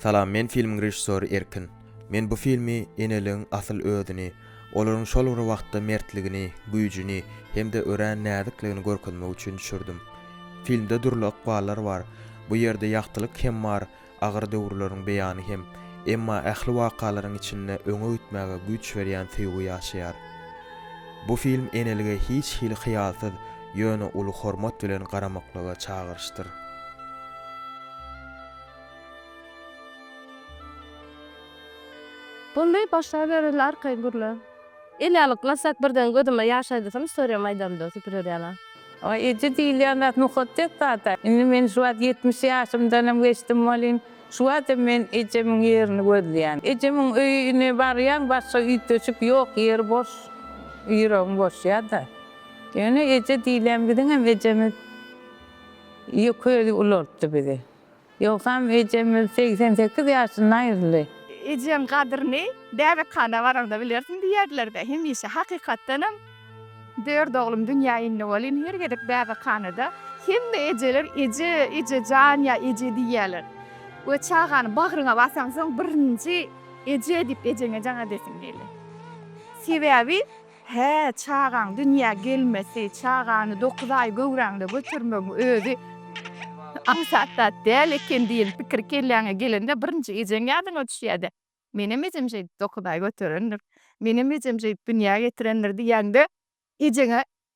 Salam men filmiň režissory Erkin. Men bu filmi eneligiň asyl özüni, olaryň şol bir wagtda mertligini, güýjüni hem-de örän näzikligini görkezmek üçin düşürdim. Filmde dürli ykballar bar. Bu ýerde ýagtylyk hem bar, agyr döwürleriň beýany hem. Emma ähli wakalaryň içinde öňe gitmäge güýç berýän söýgi ýaşaýar. Bu film enelige hiç hili hyýalsyz, ýöne uly hormat bilen garamaklyga çagyryşdyr. Boldy başlaberin arkaý gürle. Eli alyp masak birden gözüme ýaş aýdasym storýam aýdamda süpürer ýaly. Oý eje diýilýän zat mukaddes zat-a. Indi men şu wagt ýetmiş ýaşymdanam geçdim welin, şu watam men ejemiň ýerini gözleýän. Ejemiň öýüne barýaň başga üýtgeşik ýok ýeri boş, ýüregiň boşýa-da. Ýöne eje diýilýän biziňem ejemiz ýökeli ulaltdy bizi. Ýogsam ejemiz segsen sekiz ýaşynda aýryldy. Ejeň gadyryny bäbekhana baraňda bilersiň diýerler-dä. Hemişe hakykatdanam dört oglum dünýä indi welin her gezek bäbekhanada hemme ejeler eje, eje jan ýa eje diýýärler. We çagany bagryňa basaňsoň birinji eje diýip ejeňe jan edesiň gelýär. Sebäbi. Hä, çagaň dünýä gelmesi, çagany dokuz aý göwräňde götermegiň özi aňsat zat däl eken diýen pikir kelläňe gelende birinji ejeň ýadyňa düşýär-dä. Menem ejem şeýdip dokuz aý göterendir. Menem ejem şeýdip dünýä getirendir diýýäňde ejeňe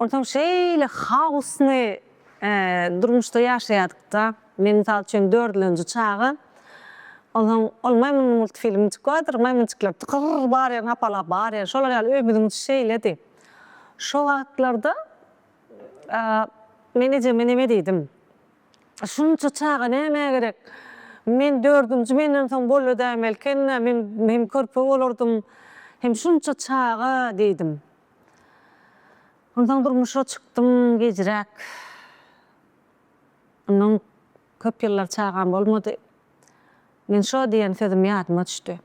Onsoň şeýle haosny durmuşda ýaşaýardyk-da. Men, mysal üçin, dördülenji çaga. Onsoň ol Maýmyn multfilmi çykýardyr, maýmynçyklar tykyr barýar, hapalap barýar. Şolar ýaly öýümiziň içi şeýledi. Şo wagtlarda men ejeme neme diýdim, Şunça çaga nämä gerek? Men dördünji menden soň boldy dämeli ekeni-dä, men hem körpe bolardym. Hem şunça çaga diýdim. Onsoň durmuşa çykdym gijräk. Ondan köp ýyllar çagam bolmady. Men şo diýen sözüm ýadyma düşdi.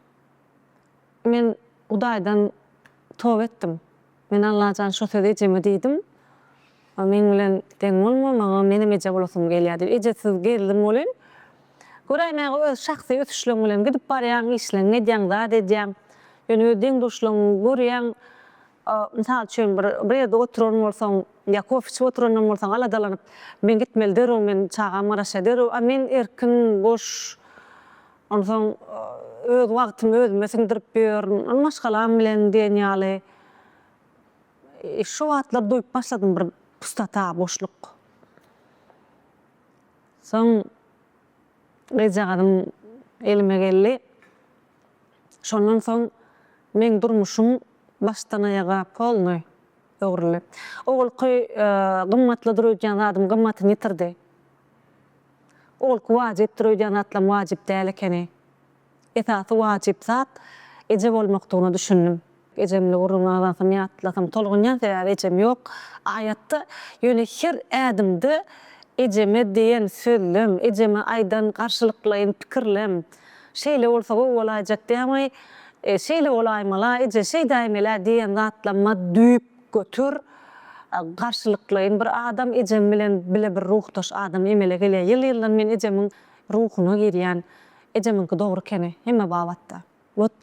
Men Hudaýdan toba etdim. Men Allajan şo sözi ejeme diýdim. O meň bilen deň bolma, maňa menem eje bolasym gelýär diýip, ejesiz gezdim welin, göräýmäge öz şahsy ösüşleň bilen gidip barýaň, işleňňi edýäň, zat edýäň. Ýöne öz deň-duşlaňňy görýäň, mysal üçin bir bir ýerde oturan bolsaň ýa kofe içip oturandan bolsaň aladalanyp, men gitmeli derrew, meniň çagam garaşýar derrew, a men erkin, boş, onsoň öz wagtymy özüme siňdirip ýörün, maşgalam bilen diýen ýaly. Şu wagtlar duýup başladym bir pustota, boşluk. Soň gyzjagazym elime geldi. Şondan soň meň durmuşym başdan aýaga polnoý öwrüldi. Owalky gymmatly dur öýdýän zadym gymmatyny ýitirdi. Owalky wajyp dur öýdýän zatlam wajyp däl ekeni. Esasy wajyp zat eje bolmakdygyna düşündim. Ejemli gürrüňi azansam ýatlasam tolgunýan sebäbi ejem ýok aýatda ýöne her ädimde ejeme diýen sözlem ejeme aýdan garşylyklaýyn pikirlem şeýle bolsa gowy bolaýjak diýämaý şeýle bolaýmala eje şeýdäýmelä diýen zatlamma düýp götur garşylyklaýyn bir adam ejem bilen bile bir ruhdaş adam emele gelýä ýyl ýyldan men ejemiň ruhuna girýän Ejemiňki dogry ekeni hemme babatda. Wot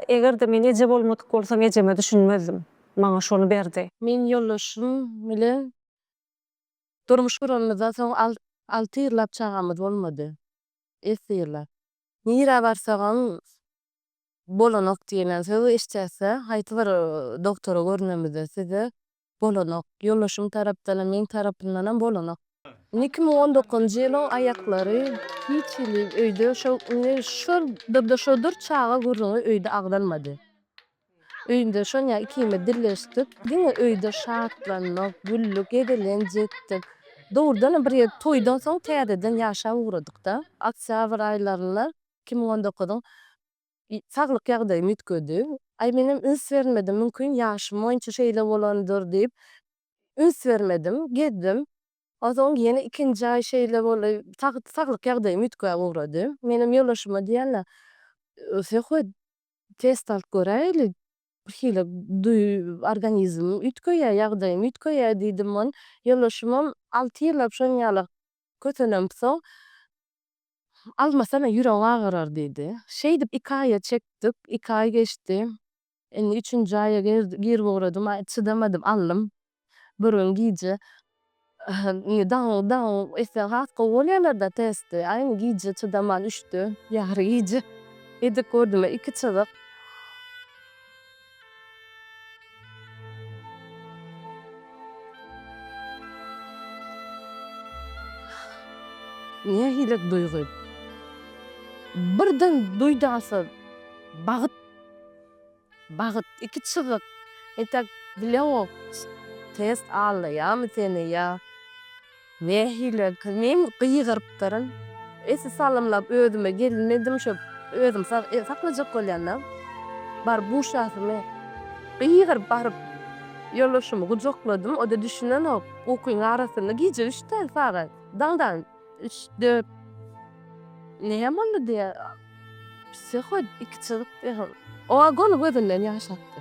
eger-de men eje bolmadyk bolsam ejeme düşünmezdim. Maňa şony berdi. Men ýoldaşym bilen durmuş guranymyzdan soň alty ýyllap çagamyz bolmady. Esli ýyllap. Nirä barsagam bolanok diýlen sözi eşitýäsde, haýsy bir doktora görnümizde size bolanok. Ýoldaşym tarapdanam, meň tarapymdanam bolanok. Iki müň on dokuzynjy ýylyň aýaklary hiç hili öýde şo indi şodur-da şodur çaga gürrüňi öýde agzalmady. Öýde şonýa ikimiz dilleşdik. Diňe öýde şatlanmak, güllük, gezelenç etdik. Dogrudanam bir ýerde toýdan soň täzeden ýaşap ugradykda. Oktýabr aýlarynda iki müň on dokuzyň Saglyk ýagdaýym üýtgedi. Aý menem üns bermedim, mümkin ýaşym boýunça şeýle bolandyr diýip üns bermedim, gezdim. Onsoň ýene ikinji aý şeýle boldy. Tagt saglyk ýagdaýym üýtgäp ugrady. Menem ýoldaşyma diýende, Söhbet test alyp göräýeli, birhili duý organizmim üýtgeýär, ýagdaýym üýtgeýär diýdim. Ýoldaşymam alty ýyllap şon ýala kösenensoň Almasana, ýüregi agyrar, diýdi. Şeýdip, iki aýa çekdik. Iki aý geçdi. Indi üçünji aýa girip ugradym. Aý, çydamadym, aldym. Bir gün gije indi dagyň, dagyň esse has gowy bolýarlar-da testi. Aý, indi gije çydaman üçde, ýary gije edip gördüm-ä, iki çyzyk. Nähili duýgy? Birden duýdansyz bagt, bagt, iki çyzyk, entek bileňok, test aldaýarmy seni ýa. Nähili kimin gygyrypdyryn. Esi salymlap özüme gelin edim şo özüm sag saklajak bolýanda bar buşasymy gygyryp baryp ýoldaşymy gujakladym oda düşünenok ukyň arasynda gije üç däl sagat daňdan üç dört näme boldy diýýär psihod iki çyzyk diýýär oa gony gözünden ýaş akdy.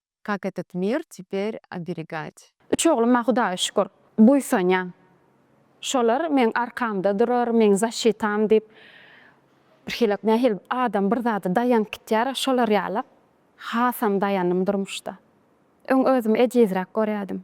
Kak etet mir teperь oberegad? Üç ogluma Hudaýa şükür, buýsanýan. Şolar meň arkamda durar, meň zaşitam diýip birhili nähili adam bir zada daýanyp gitýär-ä şolar ýala hasam daýandym durmuşda. Öň özümi ejizräk görýärdim.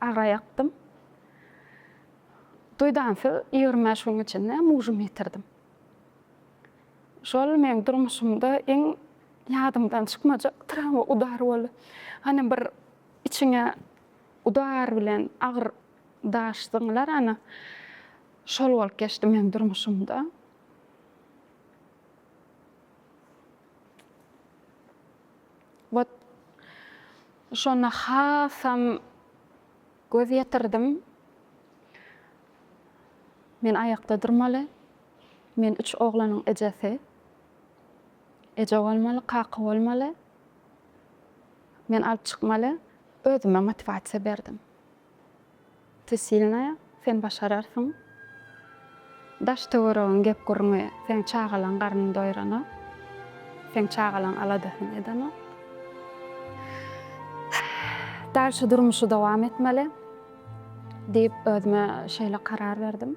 Agra ýakdym. Duýdansyz ýigrimi bäş günüň içinde mujymy ýitirdim. Şol meň durmuşymda iň ýadymdan çykmajak trawma udary boldy. Hany bir içiňe udar bilen agyr daş zyňylar hany. Şol bolup geçdi meň durmuşymda. Wot, şonda hasam göz ýetirdim. Men aýakda durmaly. Men üç oglanyň ejesi. Eje bolmaly, kaka bolmaly. Men alyp çykmaly. Özüme motiwasiýa berdim. Ty silnaýa, sen başararsyň. Daş töweregiň gep gürrüňi seň çagalaň garnyny doýranok. Seň çagalaň aladasyny edenok. Dal şu durmuşy dowam etmeli diýip özüme şeýle karar berdim.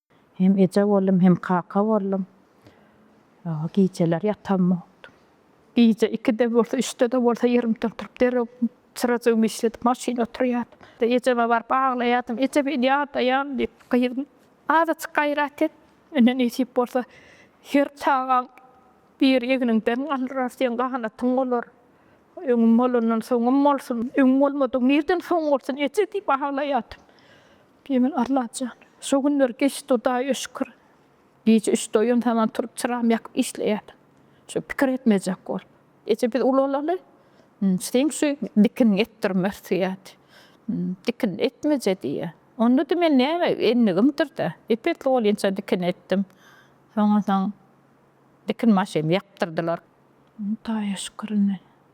Hem eje boldum, hem kaka boldum. Ýa gijeler ýatamokdym. Gije ikide bolsa, üçde-de bolsa ýerimden turup, derrew çyrajygymy işledip, maşyna oturýardym. Ejeme baryp aglaýardym, Eje, men ýadaýan diýip, gyzym, azajyk gaýrat et. Ine, nesip bolsa, her çagaň biri egniňden galdyrar, seň ganatyň bolar. Öňüm bolandan soňum bolsun, öňüm bolmadygyň nireden soňy bolsun, eje diýip aglaýardym. Pimen Allajan, şo günler geçdi Hudaýa şükür. Gije üçde oýan saman turup çyramy ýakyp işleýärdim. Şo pikir etmejek bolup. Eje biz ulalaly, seň şu dikiniňi etdirme söýädi. Dikinini etmeje diýýä. Onda-da men näme endigimdir-dä. Ep-esli bolýança dikini etdim. Soňunsoň dikin maşynymy ýapdyrdylar. Hudaýa şükür indi.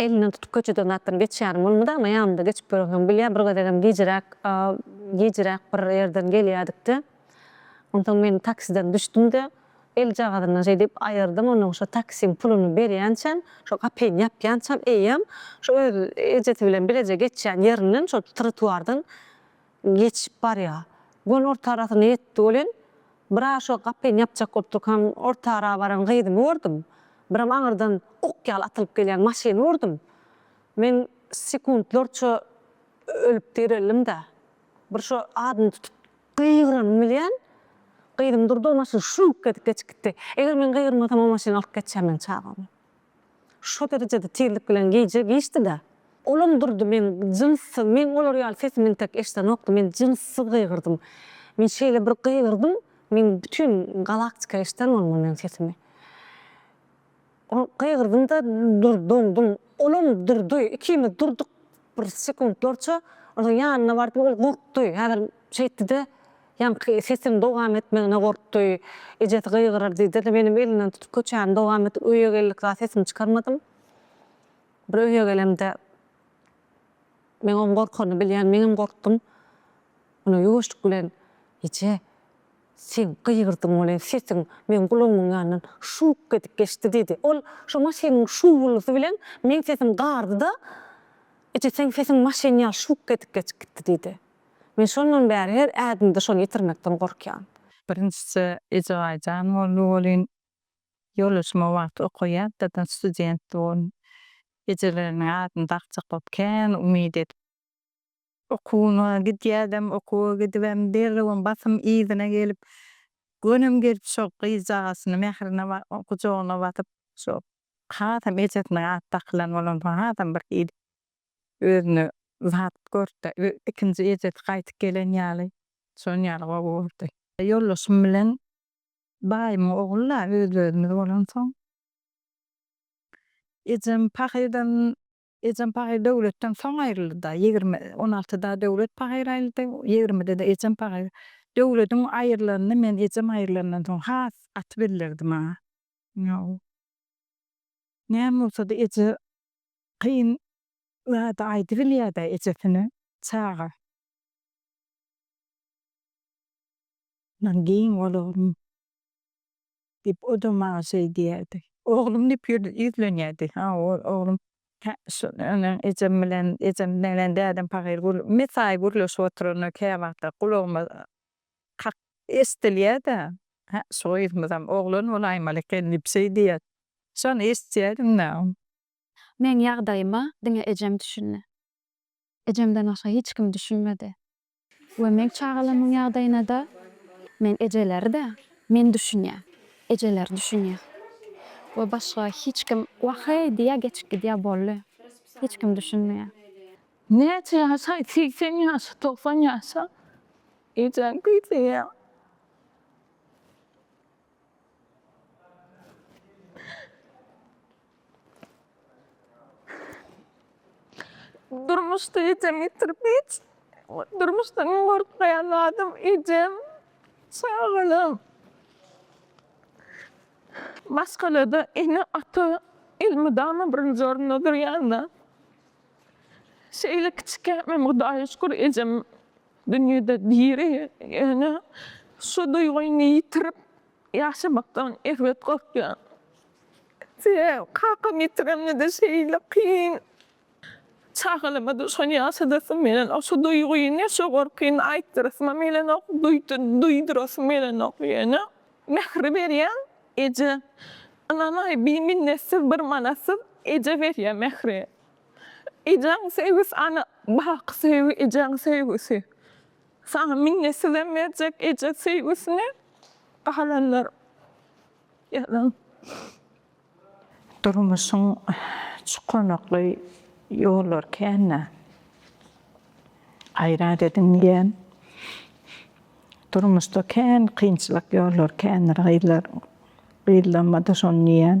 Elinden tutup köçeden zatdan geçýänim bolmady, emma ýanymda geçip ýörensoň bilýär, bir gezegem gijiräk, gijiräk bir ýerden gelýädik-de, onsoň men taksiden düşdüm-de, eljagazyndan şeý diýip aýyrdym, onnoň şo taksiň puluny berýänçäm, şo gapyny ýapýançam eýýäm, şo öz ejesy bilen bileje geçýän ýerinden, şo trotuardan Geçip barýa. Gonorta arasyna ýetdi welin, bir-a şo gapyny ýapjak bolup durkan orta ara baran gyzymy gördüm. Biram aňyrdan ok ýaly atylyp gelýän maşyny gördüm. Men sekuntlarça ölüp direldim-de, bir şo adyny tutup gygyranymy bilýän, gyzym durdy, o maşyn şuňk edip geçip gitdi. Eger men gygyrmasam o maşyn alyp geçýär meň çagamy. Şo derejede tizlik bilen gije giçdi-da. Olam durdy, men jynsy, men olar ýaly sesimi entek eşdenokdym, men jynsy gygyrdym. Men şeýle bir gygyrdym, men bütin galaktika eşden bolmaly meň sesimi. Ol gygyrdym-da, dur, doňdum. Olam durdy, ikimiz durduk, Bir sekuntlarça onuň ýanyna bardy, ol gorkdy, häzir şeýtdi-de, ýaňky sesiniň dowam etmegine gorkdy, ejesi gygyrar diýdi-de, menem elinden tutup köçäni dowam etdim, öýe geldik zat sesimi çykarmadym. Bir öýe gelemde, men oň gorkanyny bilýän, meňem gorkdum. Ýöne ýuwaşlyk bilen, Eje! Sen gygyrdyň welin, sesiň meň gulagymyň ýanyndan şuwk edip geçdi, diýdi. Ol şo maşynyň şuwwuldysy bilen meň sesim gardy-da, Eje, seň sesiň maşyn ýaly şuwk edip geçip gitdi, diýdi. Men şondan bäri her ädimde şony ýitirmekden gorkýan. Birinjisi Eje Gaýyjan boldy welin, ýoldaşym o wagt oka ýatdadan studentdi. Ol ejeleriniň adyny dakjak bolup kän umyt edip. Okuwyma gidýädem, okuwa gidibem derrewem basym yzyna gelip, gönem gelip şo gyzjagazyny mährine gujagyna basyp, şo hasam ejesiniň ady dakylan bolansoň hasam bir hili özüne zat görüpdi. Ikinji ejesi gaýdyp gelen ýaly, şon ýaly gowy gördi. Ýoldaşym bilen baýymyň ogly-da öz-özümiz bolansoň, ejem pahyr-dan Ejem pahyr Döwletden soň aýryldy-da, ýigrimi, on altyda Döwlet pahyr aýryldy, ýigrimide-de ejem pahyr. Döwlediň aýrylanyny men ejem aýrylandan soň has gaty bildirdim-ä. Ýok. Näme bolsa-da eje kyn zady aýdybilýär-dä ejesine, çaga. Mundan giň bolarum. diýip, o-da maňa şeý diýerdi. Oglum diýip ýüzlenýärdi. Ha, ol oglum tä şu öňem ejem bilen, ejem bilen dädem pahyr gür, mesaýy gürleşip oturanda käwagtlar gulagyma kak eşdilýär-de, Hä, şu gyzymyzam oglan bolaýmaly eken diýip şeý diýýärdi. Şony eşitýädim-de. Meň ýagdaýyma diňe ejem düşündi. Ejemden başga hiç kim düşünmedi. We meň çagalarymyň ýagdaýynada men ejeleri-de men düşünýä, ejeleri düşünýä. We başga hiç kim waheý diýýä geçip gidýä bolly. Hiç kim düşünmeýä. Näçe ýaşaý segsen ýaşa togsan ýaşa ejäň küýseýä. Durmuşda ejem ýitirip hiç durmuşdan iň gorkmaýan zadym ejem, çagalarym. Maşgalada ene ata elmydama birinji orunda durýanda şeýle kiçikämem Hudaýa şükür ejem dünýede diri ýöne şu duýgyny ýitirip Ýaşamakdan erbet gorkýan. Sebäbi kakamy ýitirenimde-de şeýle kyn. Çagalama-da şony ýaşadasym gelenok. Şu duýgyny, şu gorkyny aýtdyrasymam gelenok, duýdurasym gelenok. Ýöne mähri berýän eje. Ynanaý, biminnetdir, bir manatsyz eje berýär mähri. Ejäň söýgüsi ana, baky söýgi, ejäň söýgüsi. Saňa minnet sizem berjek eje söýgüsini galanlar ýazyň. Durmuşyň çukanakly ýollary känä gaýrat ediň diýen. Durmuşda kän kynçylyk ýollary kändir gyzlar. Gyzlanmada şony diýen.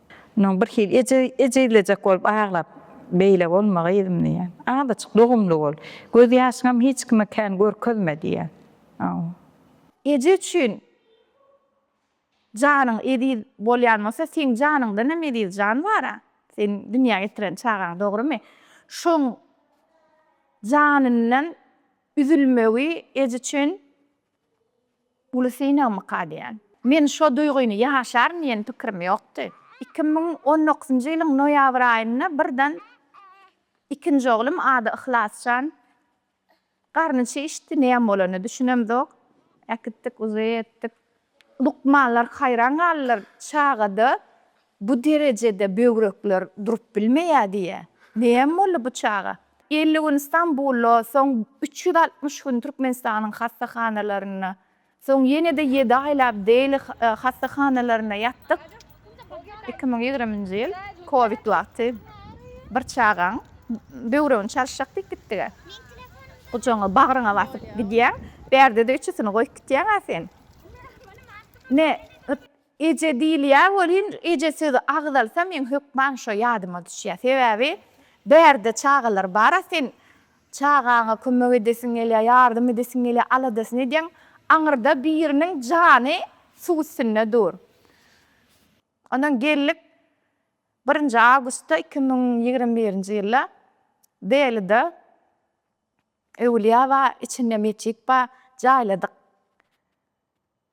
Onuň birhili ejizlejek bolup aglap, Beýle bolma, gyzym diýýär. Azajyk dogumly bol. Gözýaşyňam hiç kime kän görkezme diýýär. Eje üçin janyň eziz bolýan bolsa, seň janyňdan hem eziz jan bar-a. Sen dünýä getiren çagaň, dogrymy? Şoň janyndan üzülmegi eje üçin Uly synagmyka diýýän. Men şo duýgyny ýaşaryn diýen pikirim ýokdy. Iki müň on dokuzynjy ýylyň noýabr aýynda birden ikinji oglum, ady Yhlasjan, garny çişdi, näme bolanyny düşünemzok. Äkitdik, uzy etdik. Lukmanlar haýran galdylar. Çagada Bu derejede böwrekler durup bilmeýär diýýär. Näme boldy bu çaga? Elli gün Stambulda, soň üç ýüz altmyş gün Türkmenistanyň hassahanalarynda, soň ýene-de ýedi aýlap Dehli hassahanalarynda ýatdyk. Iki müň ýigriminji ýyl kowid wagty bir çagaň böwregini çalyşjak diýip gitdik-ä. Gujagyňa, bagryňa basyp gidýäň. Bärde-de üçüsini goýup gitýäň-ä sen. Ine, Eje diýilýä welin, eje sözi agzalsa meň hökman şo ýadyma düşýä. Sebäbi bärde çagalar bar-a sen çagaňa kömek edesiň gelýä, ýardam edesiň gelýä, aladasyny edýäň, aňyrda biriniň jany suw üstünde dur. Ondan geldik birinji awgustda iki müň ýigrimi birinji ýylda Delyda öwlýa bar, içinde metjit bar, jaýladyk.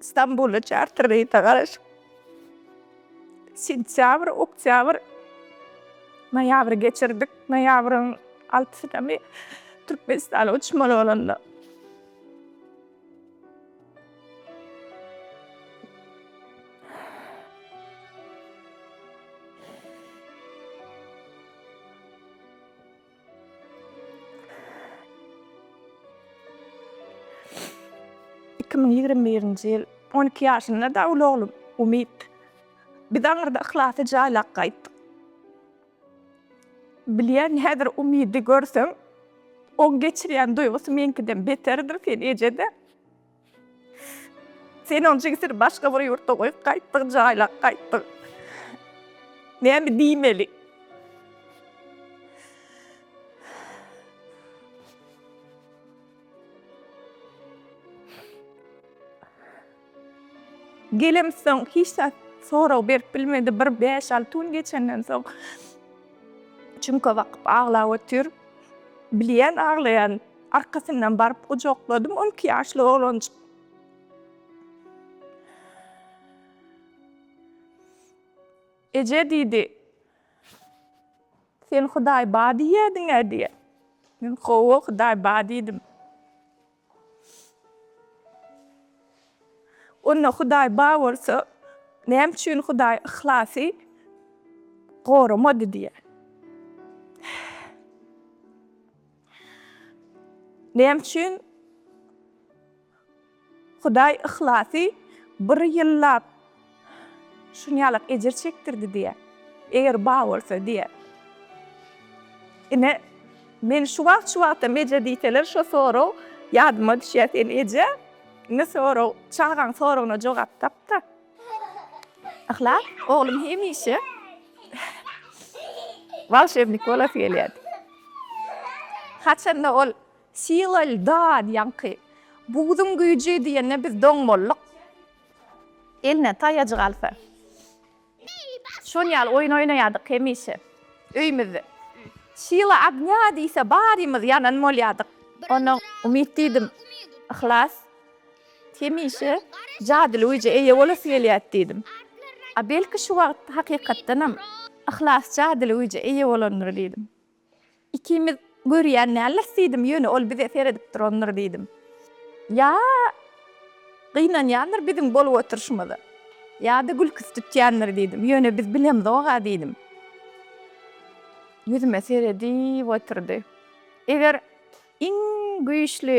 Stambuly çarter reýse garaşyp, sentýabr, oktýabr, noýabry geçirdik. Noýabryň altysynamy Türkmenistana uçmaly bolanda, Iki müň ýigrimi birinji ýyl on iki ýaşynda dag uly oglum Umyt. Biz aňyrda Yhlasy jaýlap gaýtdyk. Bilýän, häzir Umydy görsem, oň geçirýän duýgusy meňkiden beterdir, sen eje-de. Sen oň jigisini başga bir ýurtda goýup gaýtdyň, jaýlap gaýtdyň. Näme diýmeli? Gelem soň hiç zat sorag berip bilmedi. Bir bäş-alty gün geçenden soň çüňke bakyp aglap otyr. Bilýän aglaýan. Arkasyndan baryp gujakladym on iki ýaşly oglanjyk. Eje diýdi. Sen Hudaý bar diýýädiň-ä diýe. Men Hawa, Hudaý bar diýdim. Onda Hudaý bar bolsa, näme üçin Hudaý Yhlasy goramady diýe. Näme üçin Hudaý yhlasy bir ýyllap şunýalak ejir çekdirdi diýýä. Eger ba bolsa diýýä. Ine, men şu wagt, şu wagtam eje diýseler, şo sorag ýadyma düşýä, sen eje, indi sorag, çagaň soragyna jogap tap-da. Yhlas, oglum hemişe walşewnik bolasy gelýärdi. Haçanda ol Sila lda diýenki, Buzun güýji diýende biz doň bolduk. Eline taýajyk alsa, şon ýaly oýun oýnaýardyk hemişe öýümizde. Sila ogňa diýse, barymyz ýanan bolýardyk. Ondan umyt diýdim, Yhlas. Hemişe jadyly güýje eýe bolasy gelýärdi diýdim. A belki şu wagt hakykatdanam Yhlas jadyly güýje eýe bolandyr diýdim. Ikimiz görýän dälis diýdim, ýöne ol bize seredip durandyr diýdim. Ýa gynanýandyr biziň bolup oturyşymyza, ýa-da gülküsi tutýandyr diýdim, ýöne biz bilemzok-a diýdim. Ýüzüme seredip oturdy. Eger iň güýçli.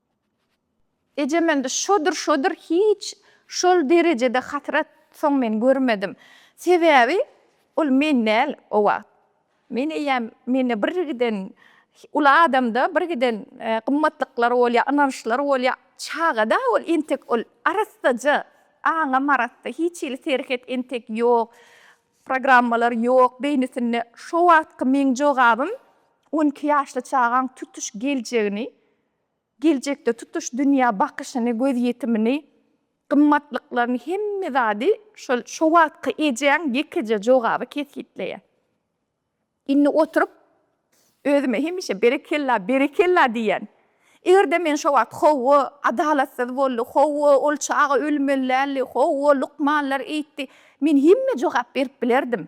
Ejem indi şodur şodur hiç şol derejede hasrat soň men görmedim. Sebäbi ol men däl o wagt. Men eýýäm mende birgiden uly adamda birgiden gymmatlyklar bolýar, ynançlar bolýar. Çagada ol entek ol arassaja aňam arassa hiç hili serhet entek ýok, programmalar ýok beýnisinde. Şo wagtky meň jogabym on iki ýaşly çagaň tutuş geljegini Geljekde tutuş dünýä bakyşyny, gözýetimini, gymmatlyklaryny, hemme zady şol şo wagtky ejäň ýekeje jogaby kesgitleýär. Indi oturyp, özüme hemişe berekella, berekella diýýän. Eger-de men şo wagt hawa, adalatsyz boldy, hawa, ol çaga ölmeli däldi, hawa, lukmanlar eýtdi, men hemme jogap berip bilerdim.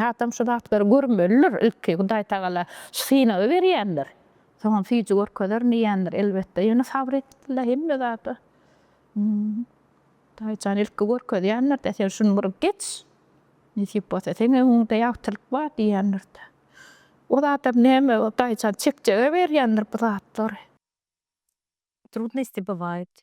Adam şu zatlary görmelidir ilki, Hudaýtagala şu synagy berýändir. Soňam süýji görkezerin diýýändir, elbetde. Ýöne sabyr etdi-le hemme zada. Hudaýjan ilki görkezýändir-de, sen şuny bir geç, nesip bolsa seň öňüňde ýagtylyk bar diýýändir-de. Ol adam näme, Hudaýjan çekjege berýändir bu zatlary. Trudnosti bywaýt.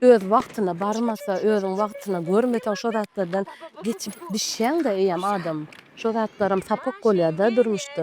Öz wagtyna barmasa, özüň wagtyna görmeseň şo zatlardan geçip bişýäňdä eýýäm adam. Şo zatlaram sapak bolýada durmuşda.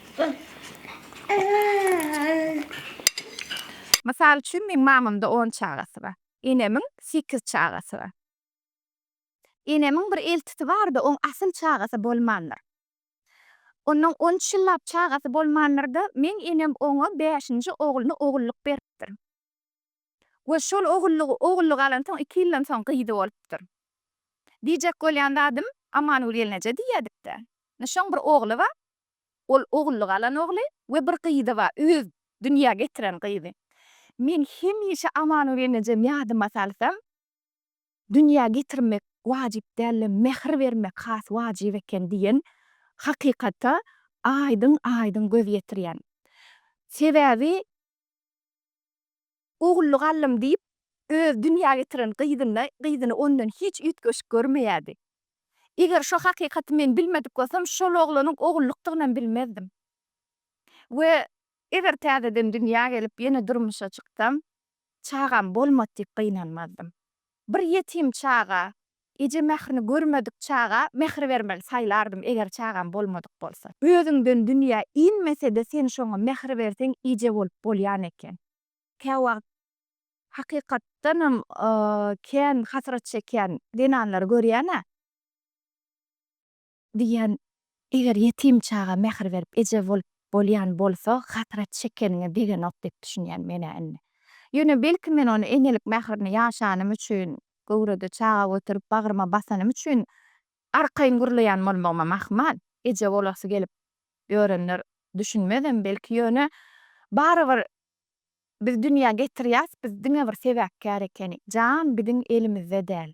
Mysal üçin, meň mamamda on çagasy bar. Enemiň sekiz çagasy bar. Enemiň bir eltisi bar-da, oň asyl çagasy bolmandyr. Onnoň on üç ýyllap çagasy bolmandyr-da, meň enem oňa bäşinji ogluny ogullyk beripdir. we şol ogullygy ogullyk alansoň iki ýyldan soň gyzy bolupdyr. Diýjek bolýan zadym, Amangül gelneje diýýädik-dä. Indi şoň bir ogly bar. Ol ogullyk alan ogly we bir gyzy bar, öz dünýä getiren gyzy. Men hemişe Amangül gelnejem ýadyma salsam, Dünýä getirmek wajyp däl-de, mähir bermek has wajyp eken diýen hakykata aýdyň-aýdyň göz ýetirýän. Sebäbi. Ogully gallym diýip, öz dünýä getiren gyzyny gyzyny ondan hiç üýtgeşik görmeýärdi. Eger şo hakykaty men bilmedik bolsam, şol oglanyň ogullukdygynam bilmezdim. We eger täzeden dünýä gelip, ýene durmuşa çyksam, çagam bolmady diýip gynanmazdym. Bir ýetim çaga, eje mährini görmedik çaga mähir bermeli saýlardym eger çagam bolmadyk bolsa. Özüňden dünýä inmesede sen şoňa mähir berseň eje bolup bolýan eken. Käwagt hakykatdanam kän hasrat çekýän zenanlary görýänä. Diýýän, Eger ýetim çaga mähir berip eje bolup bolýan bolsa, hasrat çekeniňe degenok diýip düşünýän men-ä indi. Ýöne belki men ony enelik mährini ýaşanym üçin, göwrede çaga göterip bagryma basanym üçin arkaýyn gürleýän bolmagyma mahmal. Eje bolasy gelip ýörenler düşünmezem belki, ýöne barybir biz dünýä getirýäs, biz diňe bir sebäpkär ekenik. Jan biziň elimizde däl.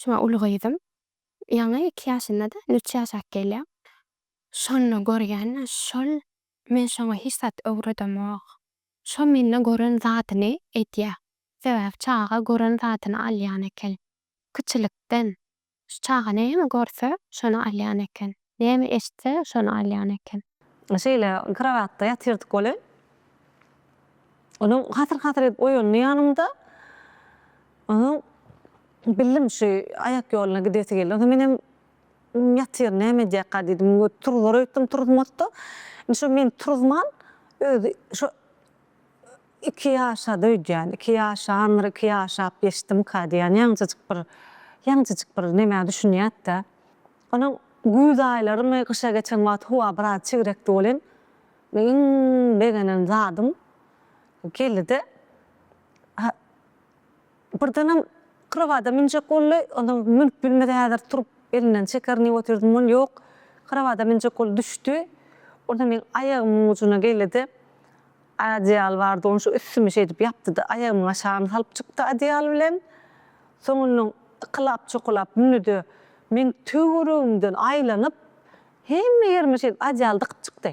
Şuňa uly gyzym ýaňy iki ýaşynda-da, indi üç ýaşap gelýär. Şonda görýän-ä şol, men şoňa hiç zat öwredemok. Şo mende gören zadyny edýär. Sebäbi çaga gören zadyny alýan eken. Kiçilikden. Şu çaga näme görse, şony alýan eken. Näme eşitse, şony alýan eken. Şeýle krowatda ýatyrdyk welin, onuň hasyr-hasyr edip oýandy ýanymda. Onsoň bildim, şu aýak ýoluna gidesi geldi. Onsoň menem ýatyryn, näme edýärka diýdim. Turuzar öýtdüm, turuzmady-da. Indi şo meni turuzman, özi şo iki ýaşady öýdýän. Iki ýaşandyr, iki ýaşap geçdimika diýýän. Ýaňjyjyk bir, ýaňjyjyk bir nämä düşünýärdi-dä. Ony güýz aýlarymy gyşa geçen wagty howa biraz çigrekdi welin, men iň begenen zadym geldi-de, ha, birdenem krowada münjek boldy, onsoň münüp bilmedi, häzir turup elinden çekerin diýip otyrdym welin, ýok, krowada münjek boldy, düşdi. Onda meniň aýagymyň ujuna geldi-de, Adyýal bardy, ony şu üstümi şeýdip ýapdy-da, aýagymyň aşagyny salyp çykdy adyýal bilen. Soň ondan ykylap-çokulap mündi-de, meň töweregimden aýlanyp, hemme ýerime şeýdip adyýal dykyp çykdy.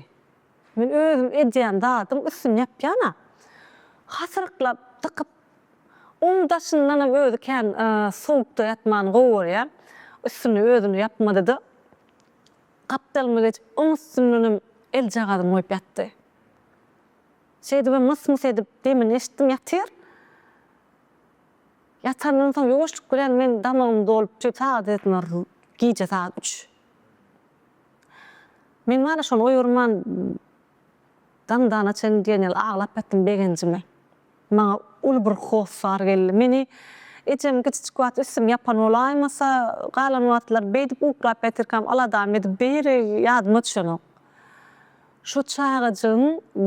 Men özüm edýän zadyň üstüni ýapýan-a. Hasyryklap dykyp, oň daşyndanam özi kän sowukda ýatmany gowy görýär. Üstüni özüni ýapmady-da, gapdalyma geçip, oň üstündenem eljagazyny goýup ýatdy. Şeýdibem mys-mys edip demini eşitdim ýatyr. Ýatandan soň ýuwaşlyk bilen men damagym dolup şu sagat edinor gije sagat üç. Men wara şony oýurman daňdana çenli diýen ýaly aglap ýatdym begenjime. Maňa uly bir hossar geldi. Meni ejem kiçijik wagt üstüni ýapan bolaýmasa, galan wagtlary beýdip uklap ýatyrkam aladamy edip beýeri ýadyma düşenok. Şo çagajygyň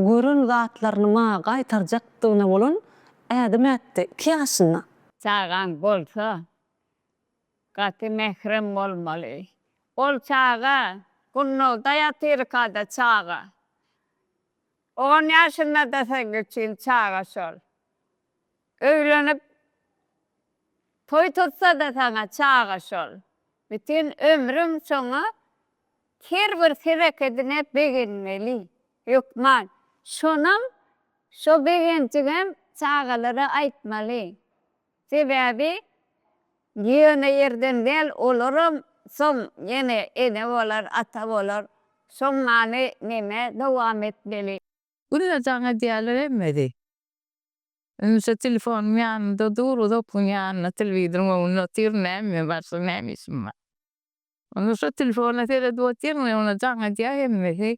gören zatlaryny maňa gaýtarjakdygyna bolan ädim-ätdi. Iki ýaşynda. Çagaň bolsa, gaty mährem bolmaly. Ol çaga, gunnagda ýatyrka-da çaga. On ýaşynda-da sen kiçin çaga şol. Öýlenip toý tutsa-da saňa çaga şol. Bütin ömrüň şoňa her bir hereketine begenmeli. Hökman, şonam, şo begenjiňem çagalara aýtmaly. Sebäbi ýöne ýerden däl olaram soň ýene ene bolar ata bolar soň many neme dowam etmeli. Günde jaň edýäler hemmesi. Ünsä telefonym ýanymda dur uzak gün ýanyna telewidorym öňünde otyr näme başga näme işim bar. Onda şo telefona seredip otyr men onda jaň edýä hemmesi.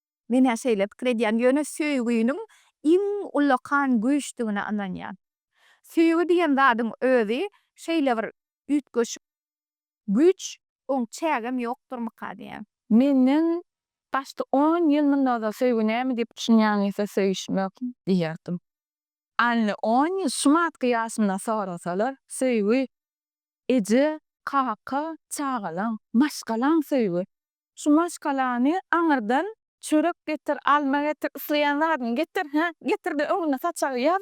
Men-ä şeýle pikir edýän, ýöne söýgüniň iň ullakan güýçdügine ynanýan. Söýgi diýen zadyň özi şeýle bir üýtgeşik güýç, oň çägem ýokdurmyka diýýän. Menden başda on ýyl mundan ozal söýgi näme diýip düşünýäňizse söýüşmek diýerdim. Ally on ýyl şu matky ýaşymdan sorasalar, söýgi, eje, kaka, çagalaň, maşgalaň söýgi. Şu maşgalany aňyrdan çörek getir, alma getir, isleýän zadyňy getir, hä, getir-de öňüne saçagy ýaz,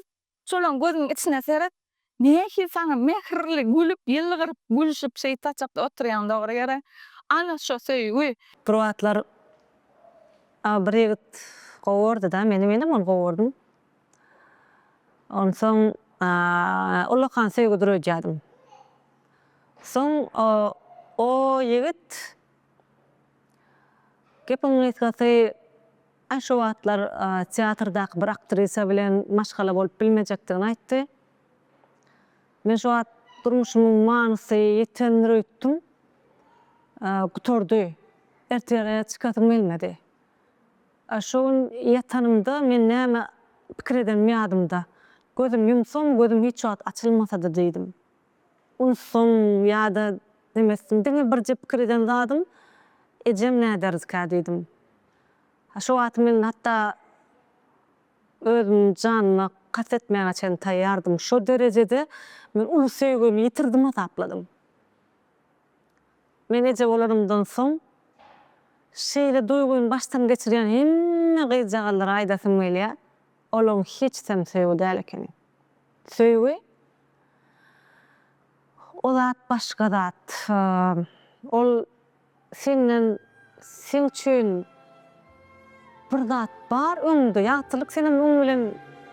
şolaň gözüniň içine seret, nähili saňa mähirli gülüp, ýylgyryp, gülşüp şeýt saçakda oturýaň dogry ýere. Ana şo söýgi! Bir wagtlar a bir ýigit gowardy-da meni, menem ony gowardym. Onsoň a ullakan söýgi duredýärdim. Soň o ýigit Gepiň gysgasy, Aý şo wagtlar teatrdaky bir aktrisa bilen maşgala bolup bilmejekdigini aýtdy. Men şo wagt durmuşymyň manysy ýitendir öýtdüm. Gutardy. Ertirä çykasym gelmedi. Şo gün ýatanymda men näme pikir edenim ýadymda. Gözüm ýumsam, gözüm hiç wagt açylmasady diýdim. Unsam ýa-da demesdim, diňe birje pikir eden zadym, Ejem näderdikä diýdim. Şo wagt men hatda özümiň janyma kast etmäge çenli taýýardym. Şo derejede men uly söýgimi ýitirdim hasapladym. Men eje bolanymdan soň şeýle duýgyny başdan geçirýän hemme gyzjagazlara aýdasym gelýär, olaň hiçsem söýgi däl ekeni. Söýgi o zat başga zat. Ol senden sen üçin bir zat bar öňde. Ýagtylyk senem oň bilen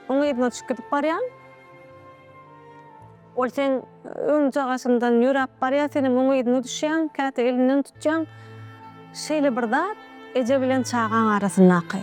oň yzyna düşüp gidip barýaň. Ol seň öňjagaşyňdan ýöräp barýar, senem oň yzyna düşýäň, käte elinden tutýaň. Şeýle bir zat eje bilen çagaň arasyndaky.